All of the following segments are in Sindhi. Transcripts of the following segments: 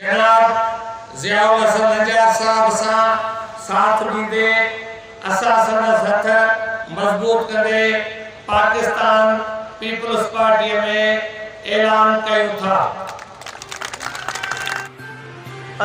جناب ضياء الحسن نجار صاحب سان ساٿ ڏيندي اسان سندس هٿ مضبوط ڪندي پاڪستان پيپلز پارٽيء ۾ اعلان ڪيون ٿا.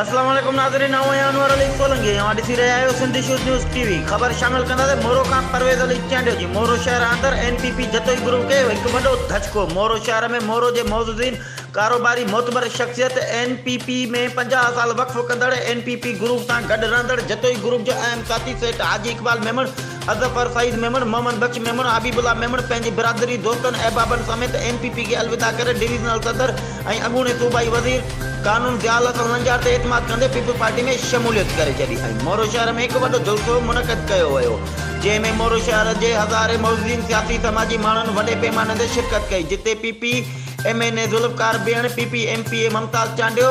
اسلام عليڪم ناظرين آئون آهيان انور علي سولنگي اوهان ڏسي رهيا آهيو Sindh issues news T V خبر شامل ڪنداسين مورو کان پرويز علي چانڊيو جي مورو شهر آندر N P P Jatoi group کي هڪ وڏو ڌچڪو مورو شهر ۾ مورو جي معززين ڪاروباري معتبر شخصيت اين پي پي ۾ پنجاهه سال وقف ڪندڙ اين پي پي گروپ سان گڏ رهندڙ جتوئي گروپ جو اهم ساٿي سيٺ حاجي اقبال ميمڻ اظفر سعيد ميمڻ، محمد بخش ميمڻ، حبيب الله ميمڻ پنهنجي برادري، دوستن، احبابن سميت ايم پي پي کي الوداع ڪري ڊويزنل صدر ۽ اڳوڻي صوبائي وزير قانون ضياء الحسن لنجار تي اعتماد ڪندي پيپلز پارٽي ۾ شموليت ڪري ڇڏي ۽ مورو شهر ۾ هڪ وڏو جلسو منعقد ڪيو ويو جنهن ۾ مورو شهر جي هزارين معززين سياسي سماجي ماڻهن وڏي پيماني تي شرڪت ڪئي جتي P P M N A Zulfiqar Behan, P P M P A Mumtaz Chandio,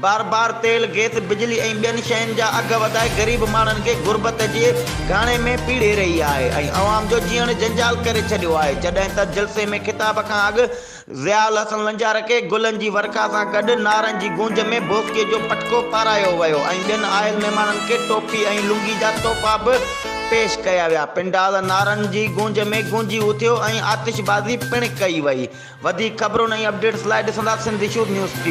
بار بار تيل، گئس، بجلي ۽ ٻين شين جا اگهه وڌائي غريب ماڻهن کي غربت جي گهاڻي ۾ پيڙهي رهي آهي ۽ عوام جو جيئڻ جنجال ڪري ڇڏيو آهي جڏهن ته جلسي ۾ خطاب کان اڳ ضياء الحسن لنجارڪي گلن جي ورکا سان گڏ نعرن جي گونج ۾ بوسڪي جو پٽڪو پارايو ويو ۽ ٻين آيل مهمانن کي ٽوپي ۽ لنگي جا تحفا به پيش ڪيا ويا پنڊال نعرن جي گونج ۾ گونجي اٿيو ۽ آتشبازي پڻ ڪئي وئي وڌيڪ خبرن ۽ اپڊيٽس لاء ڏسندا سنڌ شور نيوز ٽي.